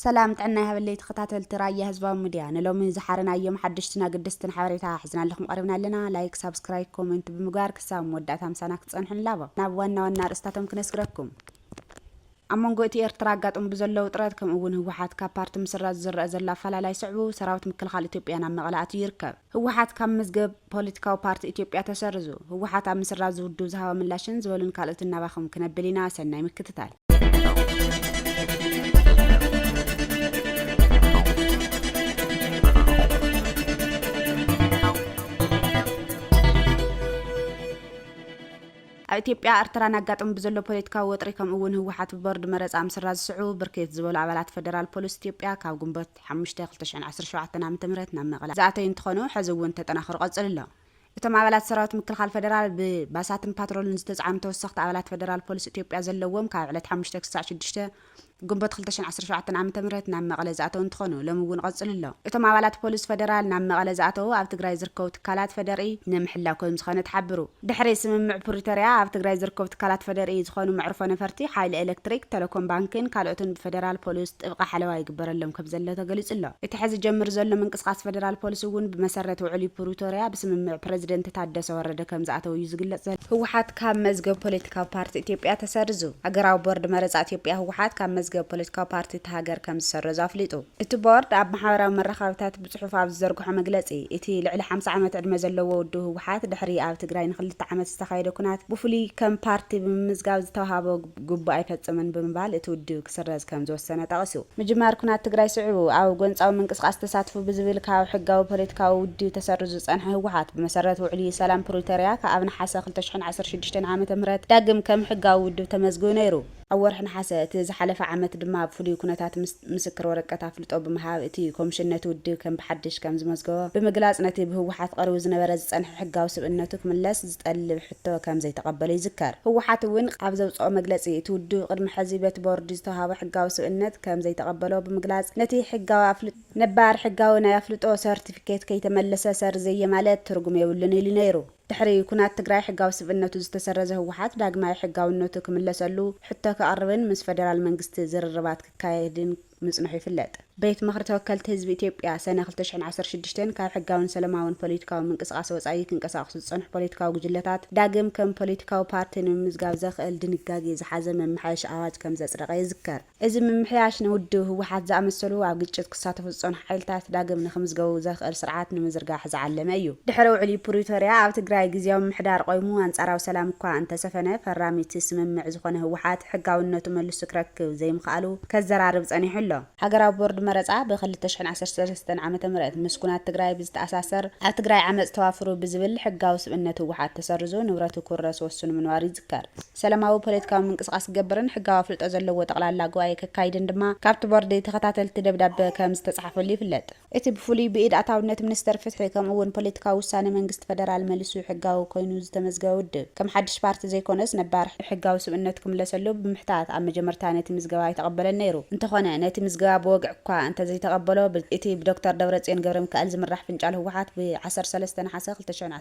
ሰላም ጥዕና ይሃበለይ ተኸታተልቲ ራያ ህዝባዊ ምድያ ንሎሚ ዝሓረናዮም ሓደሽትን ኣገደስትን ሓበሬታ ሒዝናልኹም ቐሪብና ኣለና ላይክ ሳብስክራይብ ኮመንት ብምግባር ክሳብ መወዳእታ ምሳና ክትጸንሑ ንላቦ ናብ ዋና ዋና ርእስታቶም ክነስግረኩም ኣብ መንጎ እቲ ኤርትራ ኣጋጥሙ ብዘሎ ውጥረት ከምኡ እውን ህወሓት ካብ ፓርቲ ምስራዝ ዝረአ ዘሎ ኣፈላላይ ስዕቡ ሰራዊት ምክልኻል ኢትዮጵያ ናብ መቐለ ኣትዩ ይርከብ ህወሓት ካብ መዝገብ ፖለቲካዊ ፓርቲ ኢትዮጵያ ተሰሪዙ፣ ህወሓት ኣብ ምስራዝ እዚ ውድብ ዝሃቦ ምላሽን ዝበሉን ካልኦትን ናባኹም ክነብል ኢና፣ ሰናይ ምክትታል። ኣብ ኢትዮጵያ ኣርትራን ኣጋጥሙ ብዘሎ ፖለቲካዊ ወጥሪ ከምኡ እውን ህወሓት ብቦርድ መረፃ ምስራዝ ዝስዕቡ ብርክት ዝበሉ ኣባላት ፈደራል ፖሊስ ኢትዮጵያ ካብ ግንቦት ዓሰርተ ሓሙሽተ፣ ክልተ ሽሕን ዓሰርተ ሸውዓተን ዓመተ ምህረት ናብ መቐለ ዝኣተዩ እንትኾኑ ሕዚ እውን ተጠናኺሩ ቀፂሉ ኣሎ። እቶም ኣባላት ሰራዊት ምክልኻል ፈደራል ብባሳትን ፓትሮልን ዝተፅዓኑ ተወሰኽቲ ኣባላት ፈደራል ፖሊስ ኢትዮጵያ ዘለውዎም ካብ ዕለት ሓሙሽተ ክሳዕ ሽዱሽተ ግንቦት ክልተ ሽሕን ዓሰርተ ሸውዓተን ዓመተ ምህረት ናብ መቐለ ዝኣተው እንትኾኑ ሎሚ እውን ቐፅሉ ኣሎ። እቶም ኣባላት ፖሊስ ፈደራል ናብ መቐለ ዝኣተው ኣብ ትግራይ ዝርከቡ ትካላት ፈደርኢ ንምሕላው ከምዝኾነ ተሓብሩ። ድሕሪ ስምምዕ ፕሪቶርያ ኣብ ትግራይ ዝርከቡ ትካላት ፌዴሪኢ ዝኾኑ መዕርፎ ነፈርቲ፣ ሓይሊ ኤሌክትሪክ፣ ቴሌኮም ባንኪን ካልኦትን ብፌዴራል ፖሊስ ጥብቂ ሓለዋ ይግበረሎም ከምዘሎ ተገሊፁ ኣሎ። እቲ ሕዚ ጀምር ዘሎ ምንቅስቓስ ፌዴራል ፖሊስ እውን ብመሰረት ውዕሊ ፕሪቶርያ ብስምምዕ ፕረዚደንት ታደሰ ወረደ ከምዝኣተው እዩ ዝግለፅ ዘሎ። ህወሓት ካብ መዝገብ ፖለቲካዊ ፓርቲ ኢትዮጵያ ተሰሪዙ። ሃገራዊ ቦርድ መረፃ ኢትዮጵያ ህወሓት ካብ መዝገብ ፖለቲካዊ ፓርቲ እታ ሃገር ከምዝሰረዞ ኣፍሊጡ። እቲ ቦርድ ኣብ ማሕበራዊ መራኸብታት ብጽሑፍ ኣብ ዝዘርግሖ መግለጺ፣ እቲ ልዕሊ ሓምሳ ዓመት ዕድመ ዘለዎ ውድብ ህወሓት ድሕሪ ኣብ ትግራይ ንኽልተ ዓመት ዝተኻየደ ኵናት ብፍሉይ ከም ፓርቲ ብምምዝጋብ ዝተውሃቦ ግቡእ ኣይፈጸመን ብምባል እቲ ውድብ ክስረዝ ከም ዝወሰነ ጠቒሱ። ምጅማር ኵናት ትግራይ ስዒቡ ኣብ ጎንጻዊ ምንቅስቓስ ተሳትፉ ብዝብል ካብ ሕጋዊ ፖለቲካዊ ውድብ ተሰሪዙ ዝጸንሐ ህወሓት ብመሰረት ውዕሊ ሰላም ፕሪቶርያ ኣብ ነሓሰ ክልተ ሽሕን ዓሰርተ ሽዱሽተን ዓመተ ምህረት ዳግም ከም ሕጋዊ ውድብ ተመዝጊቡ ነይሩ። ኣብ ወርሒ ነሓሰ እቲ ዝሓለፈ ዓመት ድማ ኣብ ፍሉይ ኩነታት ምስ ምስክር ወረቀት ኣፍልጦ ብምሃብ እቲ ኮምሽን ነቲ ውድብ ከም ብሓድሽ ከም ዝመዝገቦ ብምግላጽ ነቲ ብህወሓት ቐሪቡ ዝነበረ ዝጸንሐ ሕጋዊ ስብእነቱ ክምለስ ዝጠልብ ሕቶ ከም ዘይተቐበሎ ይዝከር። ህወሓት እውን ኣብ ዘውጸኦ መግለጺ እቲ ውድብ ቕድሚ ሕዚ በቲ ቦርድ ዝተውሃቦ ሕጋዊ ስብእነት ከም ዘይተቐበሎ ብምግላጽ ነቲ ሕጋዊ ኣፍልጦ ነባር ሕጋዊ ናይ ኣፍልጦ ሰርቲፊኬት ከይተመለሰ ሰርዘየ ማለት ትርጉም የብሉን ኢሉ ነይሩ። ድሕሪ ኩናት ትግራይ ሕጋዊ ስብእነቱ ዝተሰረዘ ህወሓት ዳግማይ ሕጋዊነቱ ክምለሰሉ ሕቶ ከቕርብን ምስ ፈደራል መንግስቲ ዝርርባት ክካየድን ምፅንሑ ይፍለጥ። ቤት ምኽሪ ተወከልቲ ህዝቢ ኢትዮጵያ ሰነ ክልተ ሽሕን ዓሰርተ ሽዱሽተን ካብ ሕጋዊን ሰለማዊን ፖለቲካዊ ምንቅስቓስ ወፃኢ ክንቀሳቕሱ ዝፀንሑ ፖለቲካዊ ጉጅለታት ዳግም ከም ፖለቲካዊ ፓርቲ ንምምዝጋብ ዘኽእል ድንጋጌ ዝሓዘ መመሓየሺ ኣዋጅ ከምዘፅደቐ ይዝከር። እዚ ምምሕያሽ ንውድብ ህወሓት ዝኣመሰሉ ኣብ ግጭት ክሳተፉ ዝፀንሑ ሓይልታት ዳግም ንክምዝገቡ ዘኽእል ስርዓት ንምዝርጋሕ ዝዓለመ እዩ። ድሕሪ ውዕሊ ፕሪቶርያ ኣብ ትግራይ ግዝያዊ ምምሕዳር ቆይሙ ኣንፃራዊ ሰላም እኳ እንተሰፈነ ፈራሚ እቲ ስምምዕ ዝኾነ ህወሓት ሕጋዊነቱ መልሱ ክረክብ ዘይምኽኣሉ ከዘራርብ ፀኒሑ ኣሎ። ሃገራዊ ቦርድ መረፃ ብ ክልተ ሽሕን ዓሰርተ ሰለስተን ዓመተ ምህረት ምስ ኩናት ትግራይ ብዝተኣሳሰር ኣብ ትግራይ ዓመፅ ተዋፍሩ ብዝብል ሕጋዊ ስብእነት ህወሓት ተሰሪዙ ንብረቱ ክውረስ ወስኑ ምንባሩ ተር። ሰለማዊ ፖለቲካዊ ምንቅስቓስ ክገብርን ሕጋዊ ኣፍልጦ ዘለዎ ጠቕላላ ጉባኤ ከካይድን ድማ ካብቲ ቦርድ ተኸታተልቲ ደብዳበ ከም ዝተጽሓፈሉ ይፍለጥ። እቲ ብፍሉይ ብኢድ ኣታውነት ሚኒስተር ፍትሒ ከምኡ እውን ፖለቲካዊ ውሳነ መንግስቲ ፈደራል መሊሱ ሕጋዊ ኮይኑ ዝተመዝገበ ውድብ ከም ሓድሽ ፓርቲ ዘይኮነስ ነባር ሕጋዊ ስብእነቱ ክምለሰሉ ብምሕታት ኣብ መጀመርታ ነቲ ምዝገባ ኣይተቐበለን ነይሩ። እንተኾነ ነቲ ምዝገባ ብወግዒ እኳ እንተዘይተቐበሎ እቲ ብዶክተር ደብረጽዮን ገብረሚካኤል ዝምራሕ ፍንጫል ህወሓት ብ ዓሰርተ ሰለስተ ነሓሰ ክልተ ሺሕን ዓሰርተ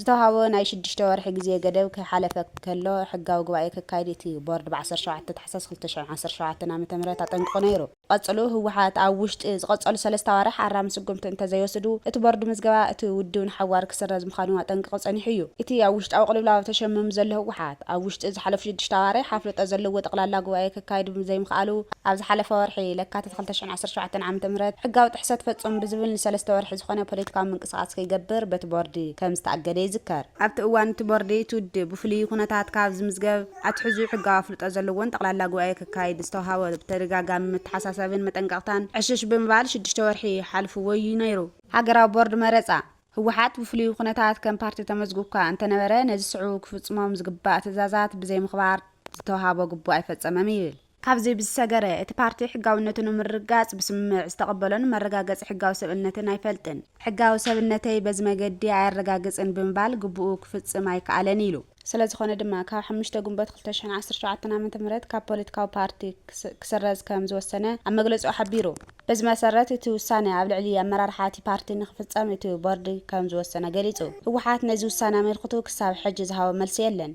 ዝተውሃቦ ናይ ሽዱሽተ ወርሒ ግዜ ገደብ ከይሓለፈ ከሎ ሕጋዊ ጉባኤ ከካይድ እቲ ቦርድ ብ ዓሰርተ ሸውዓተ ታሕሳስ ክልተ ሽሕን ዓሰርተ ሸውዓተን ዓመተ ምህረት ኣጠንቂቑ ነይሩ። ቀጽሉ ህወሓት ኣብ ውሽጢ ዝቐጸሉ ሰለስተ ኣዋርሕ ኣራሚ ስጉምቲ እንተዘይወስዱ እቲ ቦርድ ምዝገባ እቲ ውድብ ንሓዋሩ ክስረዝ ምዃኑ ኣጠንቂቑ ጸኒሑ እዩ። እቲ ኣብ ውሽጣዊ ቅልውላው ተሸሚሙ ዘሎ ህወሓት ኣብ ውሽጢ ዝሓለፉ ሽዱሽተ ኣዋርሕ ኣፍልጦ ዘለዎ ጠቕላላ ጉባኤ ከካይድ ብዘይምኽኣሉ ኣብ ዝሓለፈ ወርሒ ለካቲት ክልተ ሽሕን ዓሰርተ ሸውዓተን ዓመተ ምህረት ሕጋዊ ጥሕሰት ፈጹም ብዝብል ንሰለስተ ወርሒ ዝኾነ ፖለቲካዊ ምንቅስቓስ ከይገብር በቲ ቦርድ ከም ዝተኣገደ ይዝከር። ኣብቲ እዋን እቲ ቦርድ እቲ ውድብ ብፍሉይ ኩነታት ካብ ዝምዝገብ ኣትሕዙ ሕጋዊ ኣፍልጦ ዘለዎን ጠቕላላ ጉባኤ ከካይድ ዝተውሃቦ ብተደጋጋሚ መተሓሳሰብን መጠንቀቕታን ዕሽሽ ብምባል ሽዱሽተ ወርሒ ሓልፍዎ'ዩ ነይሩ። ሃገራዊ ቦርድ መረፃ፣ ህወሓት ብፍሉይ ኩነታት ከም ፓርቲ ተመዝጉብ'ኳ እንተነበረ ነዚ ስዕቡ ክፍፅሞም ዝግባእ ትእዛዛት ብዘይምኽባር ዝተውሃቦ ግቡእ ኣይፈፀመም ይብል። ካብዚ ብዝሰገረ፣ እቲ ፓርቲ ሕጋዊነቱ ንምርግጋጽ ብስምምዕ ዝተቐበሎን መረጋገጺ ሕጋዊ ሰብእነትን ኣይፈልጥን። ሕጋዊ ሰብእነተይ በዚ መገዲ ኣየረጋግጽን ብምባል ግቡኡ ክፍጽም ኣይከኣለን ኢሉ። ስለዝኾነ ድማ፣ ካብ ሓሙሽተ ግንቦት ክልተ ሽሕን ዓሰርተ ሸውዓተን ዓመተ ምህረት ካብ ፖለቲካዊ ፓርቲ ክስረዝ ከም ዝወሰነ ኣብ መግለጺኡ ሓቢሩ። በዚ መሰረት እቲ ውሳነ ኣብ ልዕሊ ኣመራርሓ እቲ ፓርቲ ንክፍፀም እቲ ቦርድ ከምዝወሰነ ገሊፁ። ህወሓት ነዚ ውሳነ ኣመልክቱ ክሳብ ሕጂ ዝሃቦ መልሲ የለን።